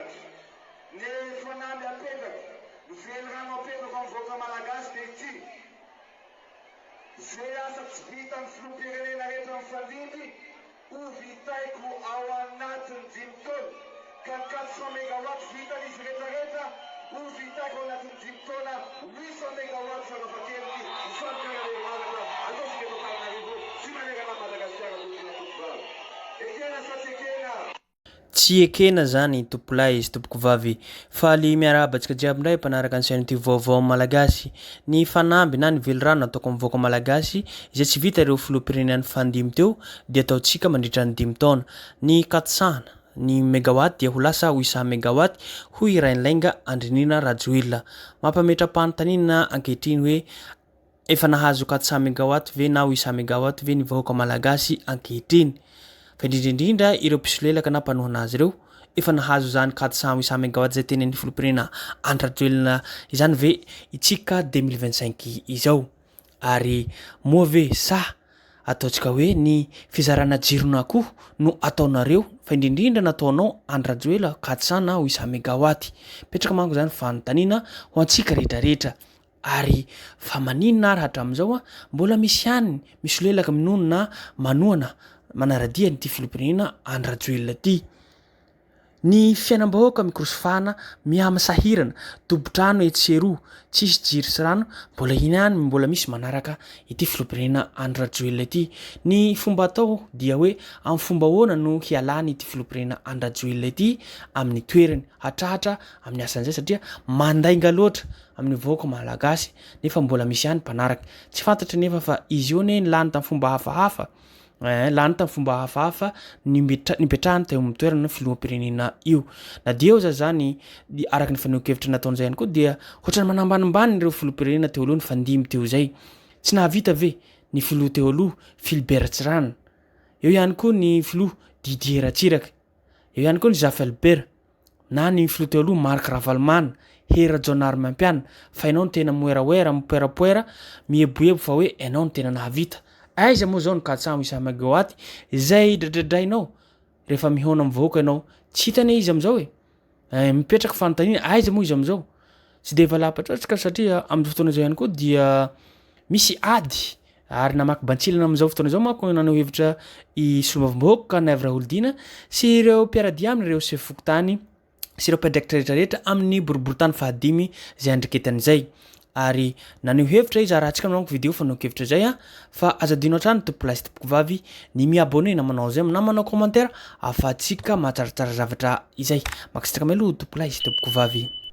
Dia ny fanamby apetrako, ny velirano apetrako amin'ny vahoaka Malagasy dia ity, Izay asa tsy vitan'ny Filoham-pirenena rehetra mifandimby, ho vitaiko ao anatin'ny dimy taona, ka ny quatre cent megawatts vitan'izy rehetra rehetra, ho vitaiko ao anatin'ny dimy taona, huit cent megawatts farafahakeliny, izany ka raha herinaratra, ataontsika eto Antananarivo sy manerana an'i Madagasikara tompokolahy tompovavy. Ekena sa tsy ekena? Tsy ekena zany tompolahy sy tompokovavy. Faly miarahaba antsika jiaby indray mpanaraka ny chaîne tube vaovao malagasy. Ny fanamby na ny velirano ataoko amin'ny vahoaka malagasy izay tsy vita ireo filoham-pirenena fandimby teo dia ataontsika mandritra ny dimy taona. Ny katosahana ny megawatt dia ho lasa ho isa megawatt hoy Rainilainga Andrinirina Rajoelina. Mampametra-panontaniana ankehitriny hoe Efa nahazo quatre-cent mégawatts ve na huit-cent mégawatts ve ny vahoaka malagasy ankehitriny? Fa indrindra indrindra ireo mpisolelaka na mpanohana azy ireo, efa nahazo izany quatre-cent huit-cent mégawatts izay tenenin'ny filoham-pirenena Andry Rajoelina izany ve itsika deux mille vingt-cinq izao? Ary moa ve sa ataontsika hoe ny fizarana jirona koa no ataonareo fa indrindra indrindra nataonao Andry Rajoelina quatre-cent na huit-cent mégawatts? Mipetraka manko izany fanontaniana ho antsika rehetra rehetra. Ary fa maninona ary hatramin'izao mbola misy ihany misolelaka minono na manohana manaradia an'ity filoham-pirenena Andry Rajoelina ity. Ny fiainam-bahoaka mikorosofahana, mihamisahirana, tompon-trano etsy sy eroa, tsisy jiro sy rano, mbola ihany mbola misy manaraka ity filoham-pirenena Andry Rajoelina ity. Ny fomba atao dia hoe amin'ny fomba ahoana no hialany ity filoham-pirenena Andry Rajoelina ity amin'ny toerany, hatratra amin'ny asany izay satria mandainga loatra. amin'ny vahoaka malagasy nefa mbola misy ihany mpanaraka tsy fantatry nefa fa izy io anie lany tamin'ny fomba hafahafa eh, lany tamin'ny fomba hafahafa ny mipetra- nipetrahany teo amin'ny toerana ny filoham-pirenena io na dia eo za zany dia araka ny fanehoan-kevitra nataon'izay ihany koa dia hotrany manambanimbany ireo filoham-pirenena teo aloha ny fandimby teo izay tsy nahavita ve ny filoha teo aloha Philbert Tsirana eo ihany koa ny filoha Didier Ratsiraka eo ihany koa ny Zafelbert na ny filoha teo aloha Marc Ravalomanana, Hery Rajaonarimampianina fa ianao no tena moeraoera, mipoerapoera, mieboebo fa hoe ianao no tena nahavita. Aiza moa izao ny katsaho Issa Maguaty izay dradradrainao rehefa mihaona amin'ny vahoaka ianao? Tsy hita anie izy amin'izao e! Mipetraka fanontaniana, aiza moa izy amin'izao? Tsy dia valapatratska satria amin'izao fotoana izao ihany koa dia misy ady ary namaky bantsilana amin'izao fotoana izao manko nanao hevitra i solombavambahoaka Naivo Raholdina sy ireo mpiaradia aminy ireo sefo fokontany sy ireo mpiandraikitra rehetra rehetra amin'ny boriborintany fahadimy izay andriketany izay ary naneho hevitra izy arahantsika manao video fanao kevitra izay a fa aza dino hatrany tompolahy sy tompokovavy ny mi-abonné na manao j'aime na manao commentaire afahantsika mahatsaratsara zavatra izay mankasitraka meloha tompolahy sy tompokovavy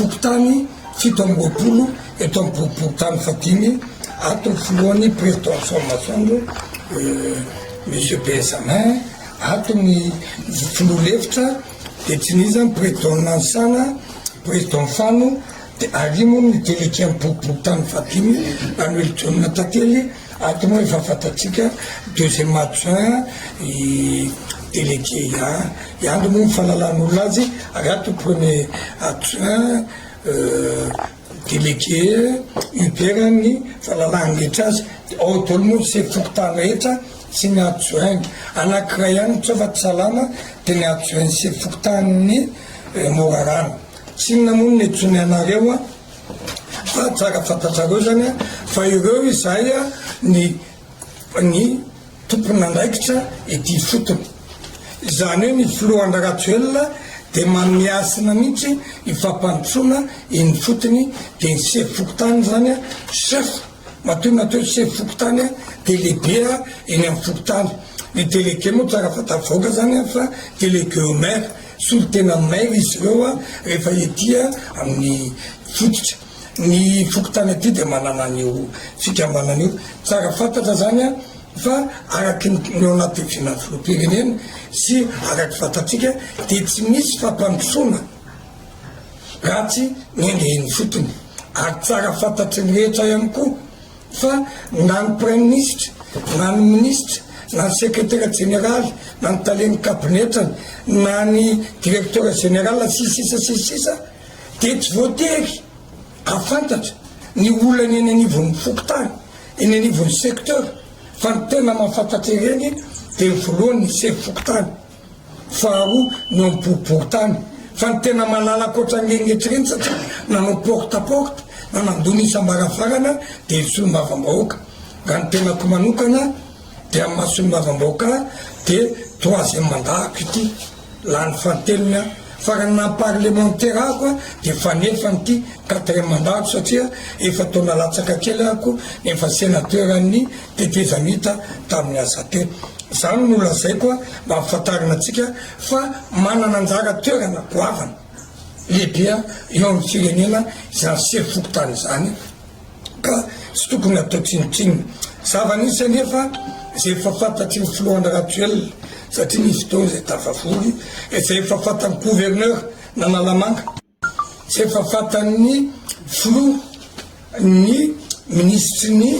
Fokontany fito amby roapolo eto amin'ny boriborintany fahadimy ato ny filohan'ny Prezidansiôn'ny Masoandro Monsieur Benjamin, ato ny filoha lefitra dia tsy nisy izany Prezidan'i Nanisana, Prezidan'i Fano dia arimo ny delegen'ny boriborintany fahadimy Ranoelidonina Tantely. Ato moa efa fantatsika deuxième adjoint i délégué ihany ihany moa ny fahalalan'olona azy ary ato premier adjoint délégué Hubert ny fahalalany rehetra azy dia ao daholo moa ny sefo fokontany rehetra sy ny adjoint anankiray ihany tsoa fa tsy salama dia ny adjoint ny sefo fokontanin'ny Morarano tsinona moa no niantsoany anareo Fa tsara fantatrareo zany fa ireo izay ny ny tompon'andraikitra ety ifotony. Izany hoe ny filoha Andry Rajoelina dia manome hasina mihitsy io fampandrosoana eny ifotony dia ny sefo fokontany zany chef matoa natao hoe sefo fokontany dia lehibe eny amin'ny fokontany. Ny délégué moa tsara fantatry vahoaka zany fa délégué au maire. Solontena mail izy ireo rehefa ety amin'ny fototra. Ny fokontany aty dia manana an'io fikambanana io. Tsara fantatra izany fa araky ny eo anatin'ny fihinan'ny filoham-pirenena sy araky fantatsika dia tsy misy fampandrosoana raha tsy ny endriny ifotony ary tsara fantatry ny rehetra ihany koa. fa na ny Praiminisitra, na ny Minisitra, na ny Sekretera Jeneraly, na ny Talen'ny Kabinetrany, na ny Direktera Jenerala, sy ny sisa sy ny sisa, dia tsy voatery hahafantatra ny olana eny anivon'ny Fokontany, eny anivon'ny Secteur, fa ny tena mahafantatra ireny dia ny Volohany ny Sefo Fokontany. Faharoa ny eo ampovoan-tany. Fa ny tena malala ankoatra ny regnetsy ireny satria nanao porte à porte na nandoa ny isam-baravarana dia ny solombavambahoaka. Raha ny tenako manokana dia amin'ny maha solombavambahoaka ahy dia troisième mandat-ko ity. Lany fahatelony aho. Fa raha ny maha parlemantera ahy koa dia fanefany ity quatrième mandat-ko satria efa-taona latsaka kely aho koa efa sénateur an'ny tetezamita tamin'ny Azate. Izany no lazaiko ampahafantarina antsika fa manana anjara toerana goavana lehibe eo amin'ny firenena izany sefo fokontany izany ka tsy tokony atao tsinontsinona. Zava-nisy anefa izay efa fantatry ny filohana Rajoelina satria nisy fotoana izay tafavory izay efa fantan'ny gouverneur n'Analamanga. Tsy efa fantan'ny Filoha ny Minisitry ny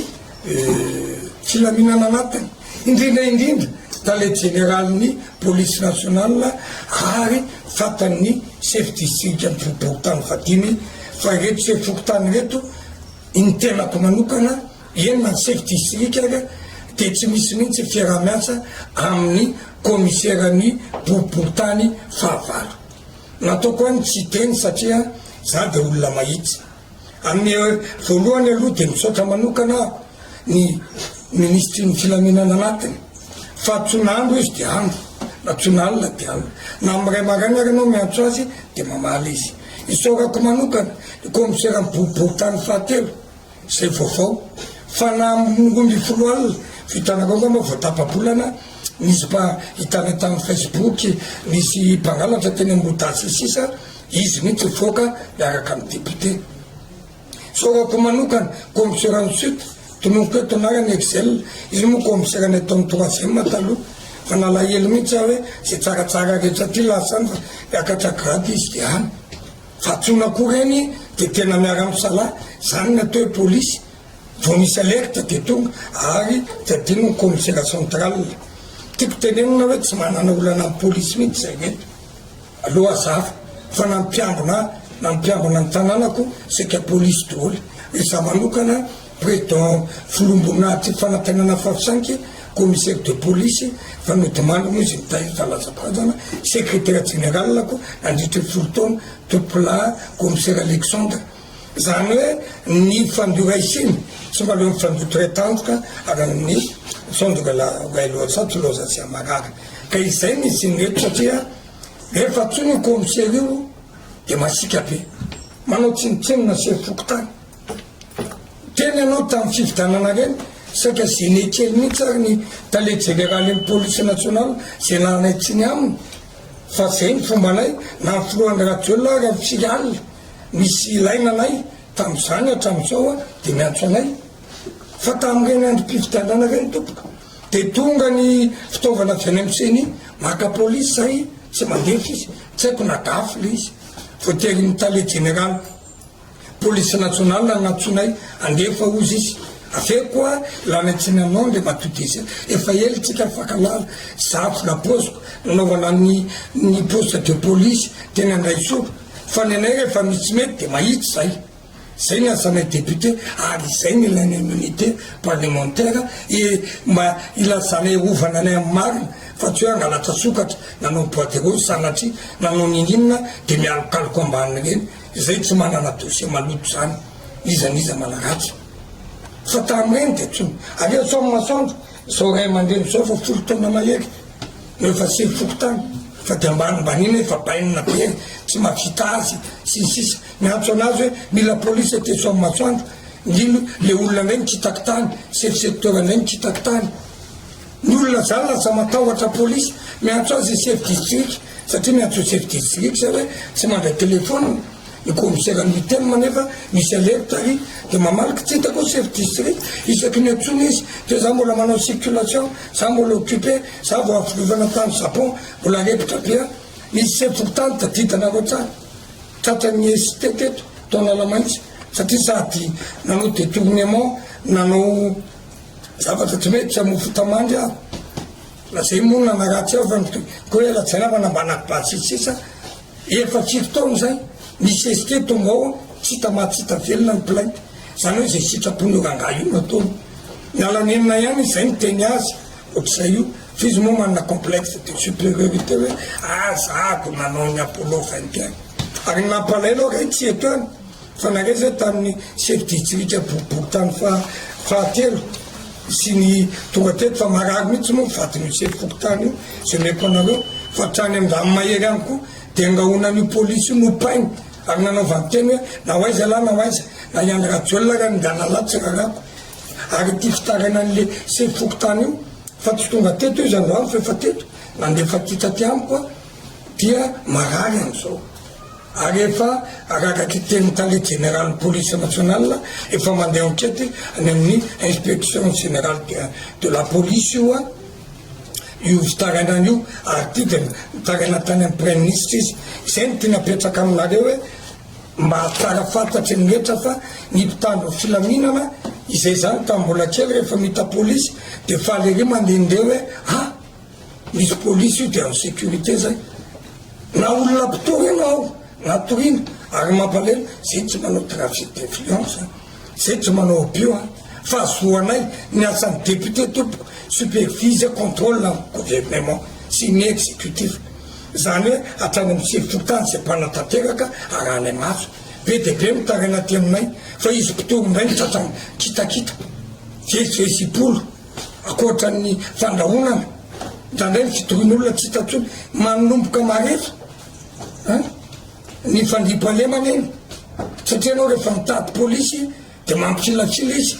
Filaminana Anatiny, indrindra indrindra Tale Jeneralin'ny Polisy Nasionalina ary fantan'ny Sefo Distrikan'ny Fokontany fahadimy fa ireto Sefo Fokontany ireto, ny tenako manokana, eny na ny Sefo Distrika aza dia tsy misy mihitsy fiaraha-miasa amin'ny Kaomiseran'ny Boriborintany fahavalo. Nataoko hoe ny tsy hiteny satria za dia olona mahitsy. Amin'ny voalohany aloha dia misaotra manokana aho ny Ministry ny filaminana anatiny fa tsy na andro izy dia andro na tsy na alina dia alina. Na amin'ny iray maraina ary ianao miantso azy dia mamaly izy. Isaorako manokana ny Kaomiseran'ny boriborintany fahatelo. Zay vaovao fa na am roa ambin'ny folo alina vitana avao angamba vao tapa-bolana nisy mba hitana tam facebook nisy mpangalatra teny am roa sy ny sisa izy mihitsy nivoaka miaraka am député zao raha ko manokana commissaire en suite tononiko eto na any excel iny moa commissaire nataony troisième taloha fa nalahelo mihitsy aho hoe zay tsaratsara rehetra aty lasa any fa miakatra grade izy de any Fa tona koa reny de tena miara misalahy zany ny atao hoe polisy vao misy alerte de tonga ary tsy adino ny commisera central tiako tenenina hoe tsy manana olana am polisy mihitsy zay eto aloha azafy fa na ny mpiambina ahy na ny mpiambina ny tananako saika polisy doholy re za manokana Prédent filombon'ady fanantenana Fafsinky, commissaire de police, fa nodimandry moa izy nitahiry zalazabazana, secrétaire général ko nandritry ny folo taona, tompolahy commissaire Alexandre. Izany hoe ny fandio raisiny tsy mba leo ny fandio très tandroka ary amin'ny sondroka la way loza tsy loza zay marary. Ka izay no izin'ny eto satria rehefa tsoina io commissaire io dia masiaka be, manao tsinontsinona chef fokontany. Teny ianao tamin'ny fifidanana ireny, saika gêné kely mihitsy ary ny tale jeneralin'ny police nationale izay lalanay tsiny aminy fa izay ny fombanay na ny filohan'ny Rajoelina ary amin'ny firy alina misy ilaina anay tamin'izany hatramin'izao an dia miantso anay fa tamin'ireny androm-pifidianana ireny tompoko dia tonga ny fitaovana avy any amin'ny ceni maka police izay tsy mandefa izy, tsy haiko na gafy ilay izy, voaterin'ny tale jeneraly. Police nationale nantsoinay handefa ozy izy aveo koa lany atsinanao ndry matodisa efa ela tsika nifankalala za vola poziko nanaovana ny ny poste de police teny andraisoa fa ny anay rehefa misy tsy mety de mahitsy zay zay ny asanay député ary izay ny ilainay immunité parlementaire et mba ilazanay hovana anay amin'ny marina fa tsy hoe hangalatra sokatra nanao bois de rose sanatria nanao ninininona de mialokaloka ambaniny reny Izay tsy manana dossier maloto zany iza n'iza manaratsy fa tamin'ireny dia tsy aleo sao masoandro zao ray aman-dreny zao efa folo taona mahery no efa sivy fokontany fa dia mba anmbaniana efa bainina be tsy mahavita azy sy ny sisa miantso anazy hoe mila police aty sao masoandro ndrindra le olona indray mitsitaky tany chef secteur indray mitsitaky tany Ny olona zany lasa matahotra police, miantso azy chef district satria miantso chef district zay hoe tsy mandray telephone, ny commissaire ny UTM nefa misy alerte ary de mamaly kitita koa chef district isaky ny antsoina izy de za mbola manao circulation, za mbola occupe, za vao avy filovana tany Japon mbola arepitra be aho, nisy chef fokontany tadidanareo hatrany tratran'ny ST teto tao Analamainty satria sady nanao detournement nanao zavatra tsy mety tsy hamofo tamandry aho raha zay moa nanaratsy aho fa ny ko hoe rajainamana mba nakibaly sisisisa efa tsifo taona zay ny sesike tonga ao tsy hita maty tsy hita velona ny plainte zany hoe zay sitrapon'ny rangahy io nataony nalanenina ihany izay ny teny azy ohatr'izay io f'izy moa manana complexe de supériorité hoe azako nanao ny apollo vingt et un ary ny nampalahelo ary tsy eto any Fandraresa tamin'ny sefo distrika boribory tany fahatelo sy ny tonga teto fa marary mihitsy moa ny vadin'io sefo fokontany io izay omeko anareo fa hatrany amin'ny ranomahery ihany koa dia angahona an'io polisy io nopainy ary nanaovany teny hoe na ho aiza lahy na ho aiza na i Andry Rajoelina ary ny ngahy Lala tsy rarako ary ity fitaraina an'ilay sefo fokontany io fa tsy tonga teto izy androany fa efa teto nandefa kitra aty amiko dia marary amin'izao ary efa araka ity tenin'ny tale jeneralin'ny polisy nasionalina efa mandeha ankety any amin'ny inspection generale de de la police io an io fitarainana io ary ity dia nitaraina tany amin'ny praiministra izy izay no tiana apetraka aminareo hoe mba hahatsara fantatry ny rehetra fa ny mpitandro ny filaminana izay izany tamin'ny mbola kely rehefa mita polisy dia faly ery mandehandeha hoe an Izy polisy io dia insécurité zay. Na olona mpitory ianao na toriana ary mampalahelo zay tsy manao trafic d'influence zay tsy manao abus an! fa zo anay ny asan'ny député tompoko supervise contrôle ny gouvernement sy ny exécutif zany hoe hatrany amin'ny sefon-tany zay mpanatanteraka arahanay maso be dia be mitaraina aty aminay fa izy mpitory indray ny sasany kitakita jesy jesy ipolo ankoatran'ny fandrahonana, indraindray ny fitohin'olona tsy hita intsony, manomboka marefo a ny fandriampahalemana eny satria ianao rehefa mitady polisy dia mampikilatsila izy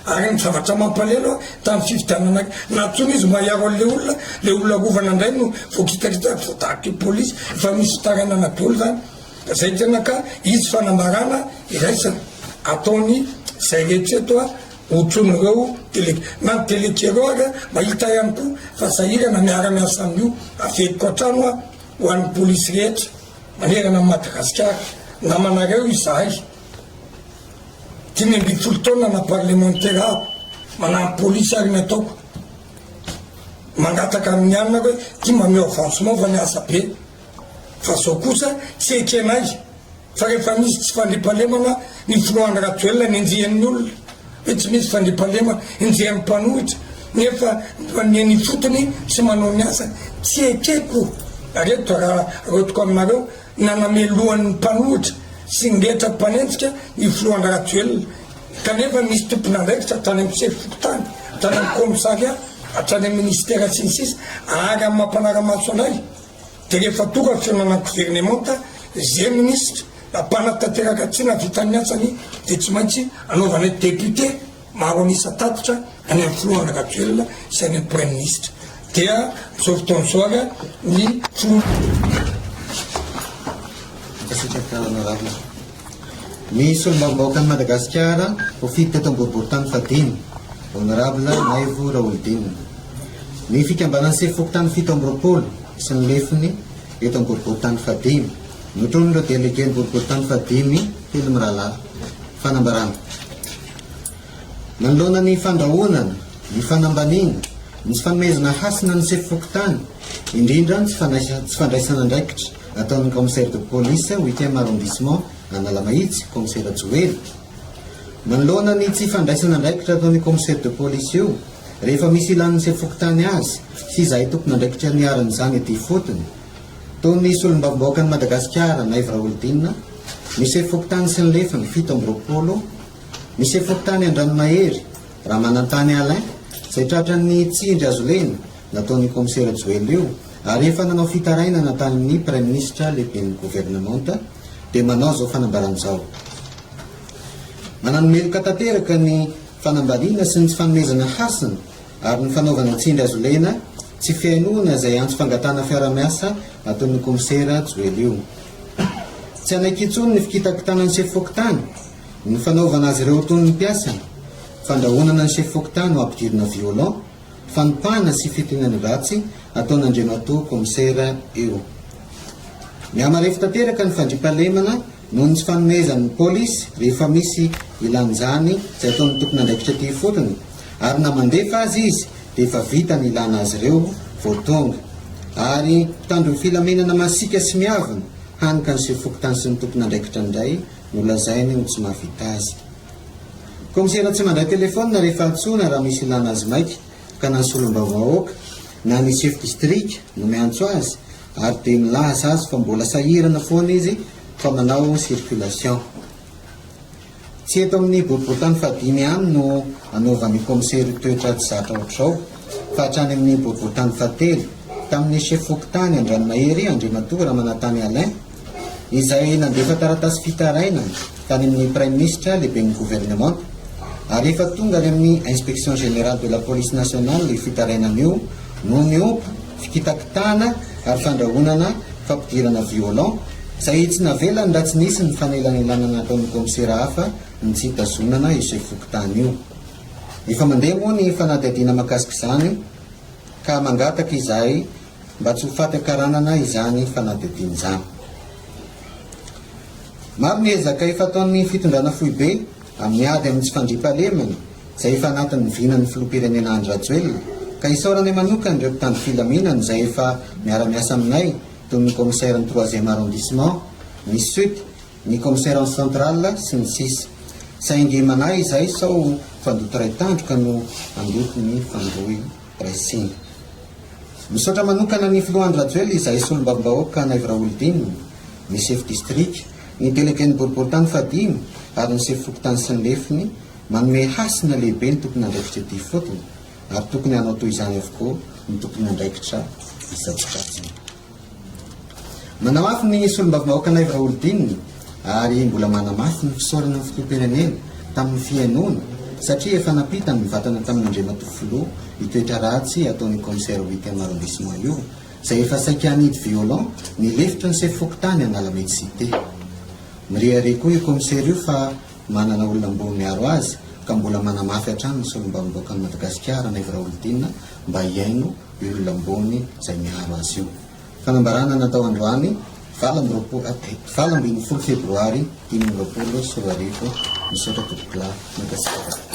ary ny zavatra mampalelo tamin'ny fifidianana nantsoina izy mba hiaro an'ilay olona, ilay olona rovana indray no voakitaritaka vao tahaka io polisy, efa misy fitarainana daholo izany, izay tena ka hisy fanambarana iraisana ataony izay rehetra eto a. Otror'ireo tele na ny tele kely eo ary mahita ihany koa fa sahirana miara miasa amin'io averiko hatrano aho ho an'ny polisy rehetra manerana an'i Madagasikara namanareo izahay dimy ambin'ny folo taona na parlemantera aho manampy polisy ary ny ataoko mangataka amin'ny anona hoe ty mameo avantso maova ny asa be fa zao kosa tsy ekenay Fa rehefa misy tsy fandriampahalemana ny filohan'i Rajoelina ny andian'ny olona hoe tsy misy fandriampahalema andian'ny mpanohitra nefa ny any ifotony tsy manao ny asany tsy ekeko reto raha rotiko aminareo nanamelohan'ny mpanohitra sy ny rehetra mpanenjika ny filohan'i Rajoelina kanefa misy tompon'andraikitra hatrany amin'ny sefo fokontany hatrany amin'ny komisaria hatrany amin'ny ministera sy ny sisa ary amin'ny mampanara-maso anay dia rehefa tonga fihaonana governemanta izay minisitra na mpanatanteraka tsy navita ny asany dia tsy maintsy anaovanay député maro an'isa tatitra any amin'ny filoha Andry Rajoelina sy any amin'ny praiminisitra dia amin'izao fotoana izao ary ny filoha Merci, Docteur Honorable. ny solombavambahoakan'i Madagasikara ho fidy teto am-boriborintany fahadimy, Honorable Maivo Raholidinina. Ny fikambanan'ny sefo fokontany fito amby roapolo sy ny lefiny eto am-boriborintany fahadimy, notronin'ireo delegen'ny boriborintany fahadimy telo mirahalahy. Fanambarana. Manoloana ny fandrahonana, ny fanambaniana, ny tsy fanomezana hasina ny sefo fokontany, indrindra ny tsy fandraisana andraikitra, Nataon'ny Commissaire de police huitième arrondissement Analamahitsy, Kaomisera Joely. Manoloana ny tsy fandraisana andraikitra ataon'io Commissaire de police io rehefa misy ilàn'ny sefo-fokontany azy sy izahay tompon'andraikitra niharan'izany ety ifotony, toa ny Solombavambahoakan'i Madagasikara Naivo Raholdina, ny sefo-fokontany sy ny lefiny fito amby roapolo, ny sefo-fokontany Andranomahery Ramanantany Alain izay tratran'ny tsindry hazolena, nataon'io kaomisera Joel io ary efa nanao fitarainana tamin'ny praiminisitra lehiben'ny governemanta dia manao izao fanambarana izao, Manano meloka tanteraka ny fanambaliana sy ny tsy fanomezana hasina ary ny fanaovana tsindry azo lena tsy fihainoana izay antso fangatahana fiarahamiasa ataon'io kaomisera Joel io. Tsy hanaiky intsony ny fikitakitana ny sefo fokontany, ny fanaovana azy ireo ho toy ny mpiasany, fandrahonana ny sefo fokontany ho ampidirina violon, fanotahana sy fitoniana ratsy ataon'Andriamatoa Kaomisera io. Mihamarefo tanteraka ny fandriampahalemana noho ny tsy fanomezan'ny Polisy rehefa misy ilan'izany tsy ataon'ny tompon'andraikitra ity ifotony ary na mandefa azy izy dia efa vita ny ilana azy ireo vao tonga ary mpitandro ny filaminana masiaka sy miavona hany ka ny sefo fokontany sy ny tompon'andraikitra indray no lazainy ho tsy mahavita azy. Kaomisera tsy mandray telefaonina rehefa antsoina raha misy ilàna azy maika, ka na ny solombavahoaka na ny chef distrika no miantso azy ary dia milaza azy fa mbola sahirana foana izy fa manao circulation. Tsy eto amin'ny boriborintany fahadimy ihany no anaovan'io kaomisera io toetra tsy zatra ohatr'izao fa hatrany amin'ny boriborintany fahatelo, tamin'ny chef fokontany Andranomahery, Andriamatoa Ramanantany Alain, izay nandefa taratasy fitarainana tany amin'ny Praiminisitra, Lehiben'ny Governemanta, ary efa tonga any amin'ny Inspection Générale de la Police Nationale io fitarainana io noho ny ompa, fikitakitahana ary fandrahonana fampidirana violon, izay tsy navelany raha tsy nisy ny fanelanelanana nataon'ny Kaomisera hafa ny tsy hitazonana io Sefo Fokontany io. Efa mandeha moa ny fanadihadiana makasik'izany ka mangataka izahay mba tsy ho faty an-karanana izany fanadihadiana izany. Maro ny ezaka efa ataon'ny fitondrana foibe amin'ny ady amin'ny tsy fandriampahalemana izay efa anatin'ny vinan'ny filoham-pirenena Andry Rajoelina ka isaoranay manokana ireo mpitandro filaminana izay efa miara-miasa aminay toy ny Commissaire ny troisième arrondissement, ny Sud, ny Commissaire central sy ny sisa Saingy manahy izahay sao fandoto iray tandroka no handoto ny fandroy. resena. Misaotra manokana ny Filoha Andry Rajoelina izahay Solombavambahoaka Anaivo Raholdina, ny Sefo Distrika, ny Delegen'ny Boriborintany fahadimy ary ny Sefo Fokontany sy ny Lefiny manome hasina lehibe ny tompon'andraikitra ety ifotony ary tokony hanao toy izany avokoa ny tompon'andraikitra isan-tsokajiny. Manamafy ny solombavambahoaka Naivo Raholdina ary mbola manamafy ny fisaorana ny filoham-pirenena tamin'ny fihainoana satria efa nampita ny mivantana tamin'Andriamatoa Filoha io toetra ratsy ataon'io Kaomisera huitième arrondissement io izay efa saika hanidy violon ny lefitry ny sefo fokontany Analamedy Cité. Mirehareha koa io Kaomisera io fa manana olona mboa miaro azy ka mbola manamafy hatrany ny solombavambahoakan'i Madagasikara Naivo Raholdina mba hihaino olona ambony izay miaro azy io. Fanambarana natao androany valo amby roapolo valo ambin'ny folo febroary dimy amby roapolo sy roa arivo. Misaotra Tompokolahy. Mankasitraka.